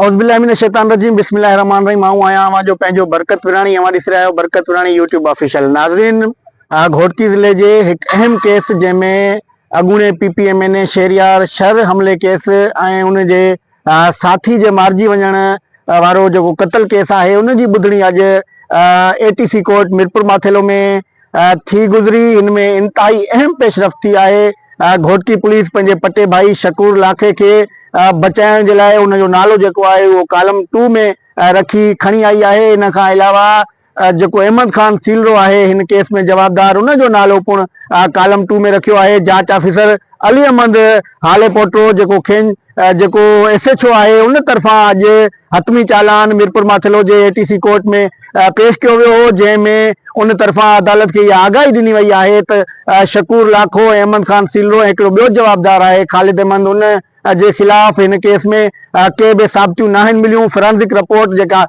اعوذ باللہ من الشيطان الرجيم بسم الله الرحمن الرحيم آئون آهيان اوهان جو پنهنجو برڪت وراڻي اوهان ڏسي رهيا آهيو برڪت وراڻي يوٽيوب آفيشل ناظرين گهوٽڪي ضلعي جي هڪ اهم ڪيس جنهن ۾ اڳوڻي P P M N A Shahryar Shar حملي ڪيس ۽ ان جي ساٿي جي مارجي وڃڻ وارو جيڪو قتل ڪيس آهي ان جي ٻڌڻي اڄ A T C court Mirpur Mathelo ۾ ٿي گذري ان ۾ انتهائي اهم پيشرفت ٿي آهي گهوٽڪي پوليس پنهنجي پٽي ڀائي شڪور لاکي کي بچائڻ جي لاء ان جو نالو جيڪو آهي اهو ڪالم ٽو ۾ رکي کڻي آئي آهي ان کان علاوه جيڪو احمد خان سيلرو آهي هن ڪيس ۾ جوابدار ان جو نالو پڻ ڪالم ٽو ۾ رکيو آهي جاچ آفيسر علي احمد هاليپوٽرو جيڪو کين جيڪو ايس ايڇ او آهي ان طرفان اڄ حتمي چالان ميرپورماٿيلو جي اي ٽي سي ڪورٽ ۾ پيش ڪيو ويو هو جنهن ۾ ان طرفان عدالت کي اها آگاهي ڏني وئي آهي ته شڪور لاکو ۽ احمد خان سيلرو ۽ هڪڙو ٻيو جوابدار آهي خالد احمد ان جي خلاف هن ڪيس ۾ ڪي به ثابتيون ناهن مليون فرانزڪ رپورٽ جيڪا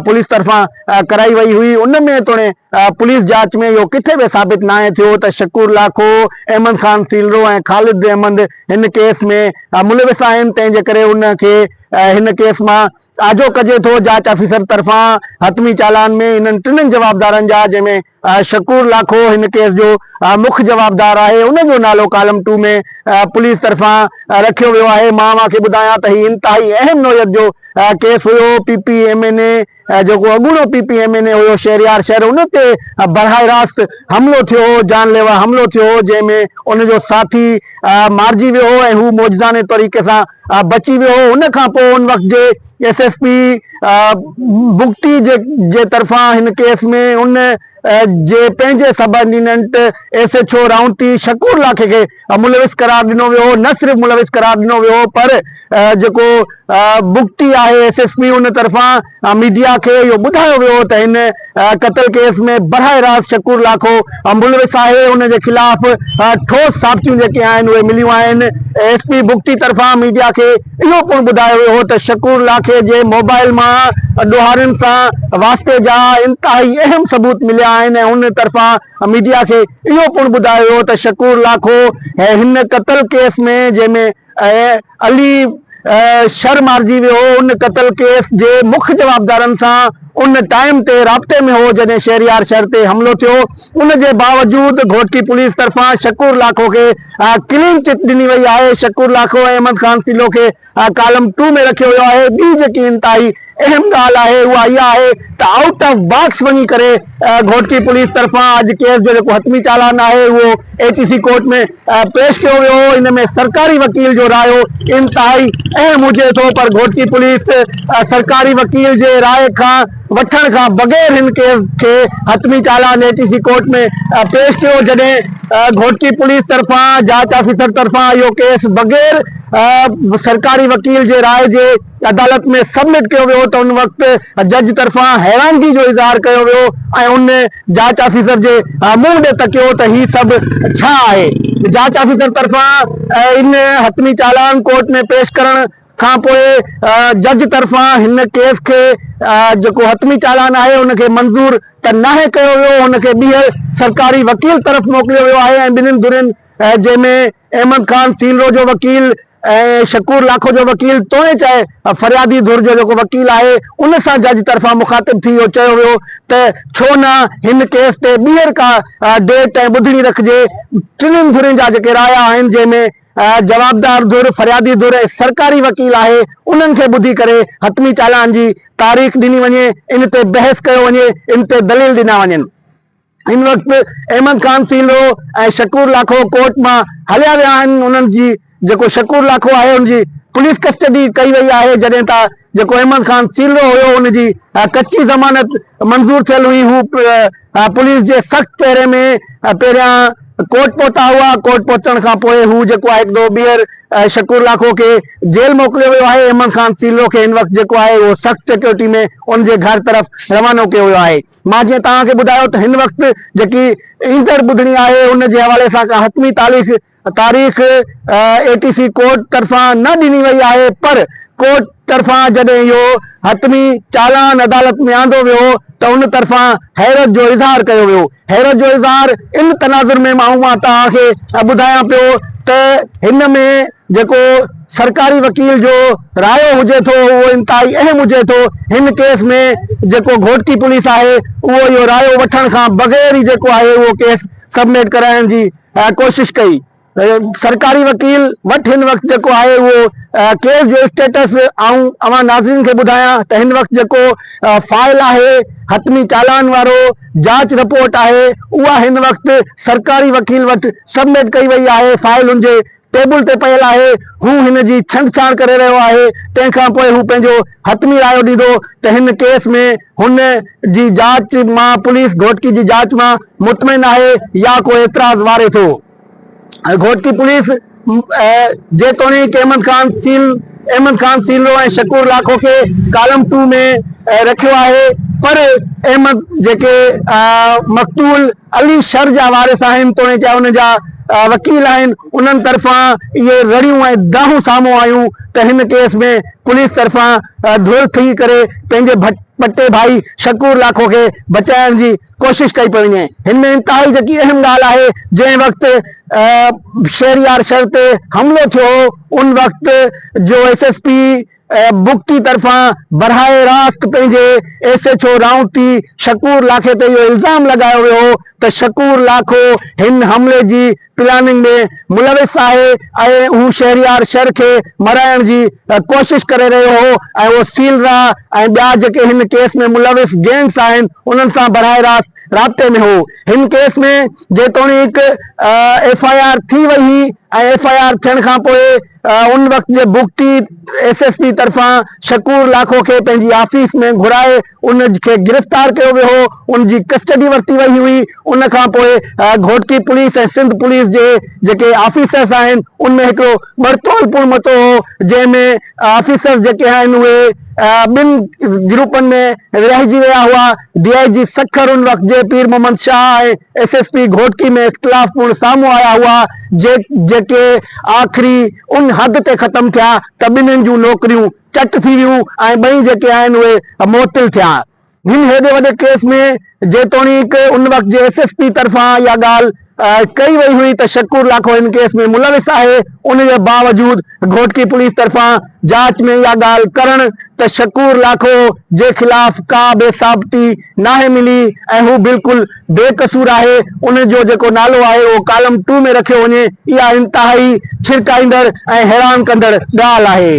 پوليس طرفان ڪرائي وئي هئي ان ۾ توڻي پوليس جاچ ۾ اهو ڪٿي به ثابت ناهي ٿيو ته شڪور لاکو، احمد خان سيلرو ۽ خالد احمد هن ڪيس ۾ ملوث آهن، تنهن جي ڪري انهن کي هن ڪيس مان آجو ڪجي ٿو. جاچ آفيسر طرفان حتمي چالان ۾ انهن ٽنهن جوابدارن جا جنهن ۾ شڪور لاکو هن ڪيس جو مک جوابدار آهي، ان جو نالو ڪالم ٽو ۾ پوليس طرفان رکيو ويو آهي. مان اوهان کي ٻڌايان ته هي انتهائي اهم نوعيت جو ڪيس هيو، P P M N A, جيڪو اڳوڻو P P M N A هيو شهريار شر ان تي براهه راست حملو ٿيو هو، جان ليوا حملو ٿيو هو جنهن ۾ ان جو ساٿي مارجي ويو هو ۽ هو موجدانه طريقي سان بچي ويو هو ان کان پوء ان وقت جي ايس ايس پي بگٽي جي طرفان هن ڪيس ۾ ان جي پنهنجي سبارڊيننٽ ايس ايڇ او رائونتي شڪور لاکي کي ملوث قرار ڏنو ويو هو نه صرف ملوث قرار ڏنو ويو هو پر جيڪو بگٽي آهي ايس ايس پي ان طرفان ميڊيا کي اهو ٻڌايو ويو هو ته هن قتل ڪيس ۾ براهه راست شڪور لاکو ملوث آهي ان جي خلاف ٺوس ثابتيون جيڪي آهن اهي مليون آهن ايس پي بگٽي طرفان ميڊيا کي اهو پڻ ٻڌايو ويو هو ته شڪور لاکي جي موبائل مان ڏوهارين سان واسطي جا انتهائي اهم ثبوت مليا آهن ۽ ان طرفان ميڊيا کي اهو پڻ ٻڌايو ويو ته شڪور لاکو هي هن قتل ڪيس ۾ جنهن ۾ علي شر مارجي ويو هو ان قتل ڪيس جي مک جوابدارن سان ان ٽائيم تي رابطي ۾ هو جڏهن شهريار شر تي حملو ٿيو ان جي باوجود گهوٽڪي پوليس طرفان شڪور لاکو کي ڪلين چٽ ڏني وئي آهي شڪور لاکو ۽ احمد خان سيلو کي ڪالم ٽو ۾ رکيو ويو آهي. ٻي جيڪي انتهائي اهم ڳالهه آهي اها اها آهي ته آئوٽ آف باڪس وڃي ڪري گهوٽڪي پوليس طرفان اڄ ڪيس جو جيڪو حتمي چالان آهي اهو اي ٽي سي ڪورٽ ۾ پيش ڪيو ويو هو ان ۾ سرڪاري وڪيل جو رايو انتهائي اهم هجي ٿو پر گهوٽڪي پوليس سرڪاري وڪيل جي راء کان وٺڻ کان بغير هن ڪيس کي حتمي چالان ڏي ٽي سي ڪورٽ ۾ پيش ڪيو جڏهن گهوٽڪي پوليس طرفان جاچ آفيسر طرفان اهو ڪيس بغير سرڪاري وڪيل جي راء جي عدالت ۾ سبمٽ ڪيو ويو ته ان وقت جج طرفان حيرانگي جو اظهار ڪيو ويو ۽ ان جاچ آفيسر جي منهن ڏي تڪيو ته هي سڀ ڇا آهي جاچ آفيسر طرفان ان حتمي چالان ڪورٽ ۾ پيش ڪرڻ کان پوء جج طرفان هن ڪيس کي جيڪو حتمي چالان آهي ان کي منظور ته ناهي ڪيو ويو ان کي ٻيهر سرڪاري وڪيل طرف موڪليو ويو آهي ۽ ٻنهن ڌرين جنهن ۾ احمد خان سيلرو جو وڪيل ۽ شڪور لاکو جو وڪيل توڻي چاهي فريادي ڌر جو جيڪو وڪيل آهي ان سان جج طرفان مخاطب ٿي اهو چيو ويو ته ڇو نه هن ڪيس تي ٻيهر ڪا ڊيٽ ۽ ٻڌڻي رکجي ٽنهن ڌرين جا جيڪي رايا آهن جنهن ۾ جوابدار ڌر، فريادي ڌر ۽ سرڪاري وڪيل آهي، انهن کي ٻڌي ڪري حتمي چالان جي تاريخ ڏني وڃي، ان تي بحث ڪيو وڃي، ان تي دليل ڏنا وڃن. هن وقت احمد خان سيلو ۽ شڪور لاکو ڪورٽ مان هليا ويا آهن، انهن جي جيڪو شڪور لاکو آهي ان جي پوليس ڪسٽڊي ڪئي وئي آهي، جڏهن ته جيڪو احمد خان سيلو هيو ان جي ڪچي ضمانت منظور ٿيل هئي، هو پوليس جي سخت پهري ۾ پهريان ڪورٽ پهتا هئا، ڪورٽ پهچڻ کان پوء هو جيڪو آهي هڪ دفعو ٻيهر شڪور لاکو کي جيل موڪليو ويو آهي، احمد خان سيلو کي هن وقت جيڪو آهي اهو سخت سيڪيورٽي ۾ ان جي گهر طرف روانو ڪيو ويو آهي، مان جيئن توهان کي ٻڌايو ته هن وقت جيڪي ايندڙ ٻڌڻي آهي ان جي حوالي سان ڪا حتمي تاليخ تاريخ اي ٽي سي ڪورٽ طرفان نه ڏني وئي آهي پر ڪورٽ طرفان جڏهن اهو حتمي چالان عدالت ۾ آندو ويو ته ان طرفان حيرت جو اظهار ڪيو ويو حيرت جو اظهار ان تناظر ۾ مان اهو توهان کي ٻڌايان پيو ته هن ۾ جيڪو سرڪاري وڪيل جو رايو هجي ٿو اهو انتهائي اهم هجي ٿو هن ڪيس ۾ جيڪو گهوٽڪي پوليس آهي اهو اهو رايو وٺڻ کان بغير ئي جيڪو آهي اهو ڪيس سبميٽ ڪرائڻ جي ڪوشش ڪئي سرڪاري وڪيل وٽ هن وقت جيڪو آهي اهو ڪيس جو اسٽيٽس آئون اوهان ناظرين کي ٻڌايان ته هن وقت جيڪو فائل آهي حتمي چالان وارو جاچ رپورٽ آهي اها هن وقت سرڪاري وڪيل وٽ سبمٽ ڪئي وئي آهي فائل ان جي ٽيبل تي پيل آهي، هو هن جي ڇنڊڇاڻ ڪري رهيو آهي، تنهن کان پوء هو پنهنجو حتمي رايو ڏيندو ته هن ڪيس ۾ هن جي جاچ مان پوليس گهوٽڪي جي جاچ مان مطمئن آهي يا ڪو اعتراض واري ٿو. گهوٽڪي پوليس جيتوڻيڪ احمد خان سيل احمد خان سيلرو ۽ شڪور لاکو کي ڪالم ٽو ۾ رکيو آهي پر احمد جيڪي مقتول علي شھر جا وارث آھن توڻيڪ انھن جا وڪيل آھن انھن طرفان اھي رڙيون ۽ دانھون سامھون آيون ته ھن ڪيس ۾ پوليس طرفان ڌر ٿي ڪري پنھنجي پٽي ڀائي شڪور لاکو کي بچائڻ جي ڪوشش ڪئي پئي وڃي ھن ۾ انتھائي جيڪي اھم ڳالھه آھي جنھن وقت شھريار شھر تي حملو ٿيو ھو ان وقت جو ايس ايس پي بگٽي طرفان براھ راست پنهنجي ايس ايڇ او رائونٽي شڪور لاکي تي اهو الزام لڳايو ويو هو ته شڪور لاکو هن حملي جي پلاننگ ۾ ملوث آهي ۽ هو شهريار شر کي مرائڻ جي ڪوشش ڪري رهيو هو ۽ اهو سيل راء ۽ ٻيا جيڪي هن ڪيس ۾ ملوث گينگز آهن انهن سان براھ راست رابطي ۾ هو هن ڪيس ۾ جيتوڻيڪ ايف آء آر ٿي وئي هئي ۽ ايف آء آر ٿيڻ کانپوء ان وقت جي بگٽي ايس ايس پي طرفان شڪور لاکو کي پنهنجي آفيس ۾ گهرائي ان کي گرفتار ڪيو ويو هو ان جي ڪسٽڊي ورتي وئي هئي ان کان پوء گهوٽڪي پوليس ۽ سنڌ پوليس جي جيڪي آفيسرس آهن ان ۾ هڪڙو ٻڙتول پڻ متو هو جنهن ۾ آفيسرس جيڪي آهن اهي ٻن گروپن ۾ ورهائجي ويا هئا ڊي آء جي سکر ان وقت جي Pir Muhammad Shah ۽ S S P Ghotki ۾ اختلاف پڻ سامهون آيا هئا جيڪي آخري ان حد تي ختم ٿيا ته ٻنهين جون نوڪريون چٽ ٿي ويون ۽ ٻئي جيڪي آهن اهي معطل ٿيا هن هيڏي وڏي ڪيس ۾ جيتوڻيڪ ان وقت جي ايس ايس پي طرفان اها ڳالهه ڪئي وئي هئي ته شڪور لاکو هن ڪيس ۾ ملوث آهي، ان جي باوجود گهوٽڪي پوليس طرفان جاچ ۾ اها ڳالهه ڪرڻ ته شڪور لاکو جي خلاف ڪا به ثابتي ناهي ملي ۽ هو بلڪل بي قصور آهي، ان جو جيڪو نالو آهي اهو ڪالم ٽو ۾ رکيو وڃي، اها انتهائي ڇرڪائيندڙ ۽ حيران ڪندڙ ڳالهه آهي.